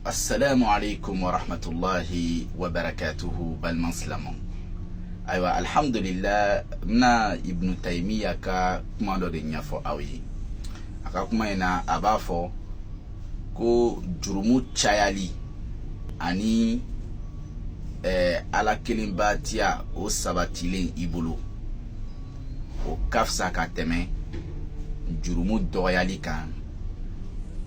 assalamu alaikum wa rahmatullahi wa barakatuhu balima silamɛw ayiwa alhamdulillah n bɛna ibnu tayimiya ka kuma dɔ de ɲɛfɔ aw ye a ka kuma in na a b'a fɔ ko jurumu cayali ani eh, ala kelenbatiya o sabatilen i bolo o ka fisa ka tɛmɛ jurumu dɔgɔyali kan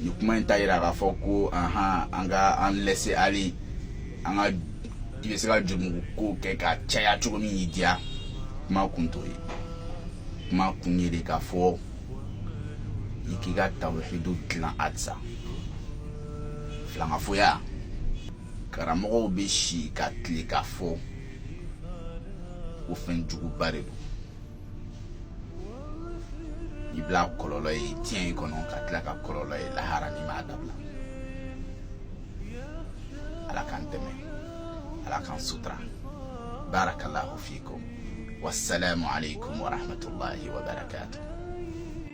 nin kuma in t'a yira k'a fɔ ko ahan an ka an laisser aller an ka i bɛ se ka jurumu ko kɛ ka caya cogo min y'i diya kuma kun t'o ye kuma kun ye de k'a fɔ i k'i ka tawuhidu dilan halisa filankafoya karamɔgɔw bɛ si ka tile k'a fɔ ko fɛn juguba de don i bɛn'a kɔlɔlɔ ye diɲɛ in kɔnɔ ka tila k'a kɔlɔlɔ ye lahara n'i m'a dabila ala k'an dɛmɛ ala k'an sutura barakallahu fikum wassalamu alaikum warahmatullahi wabarakatuh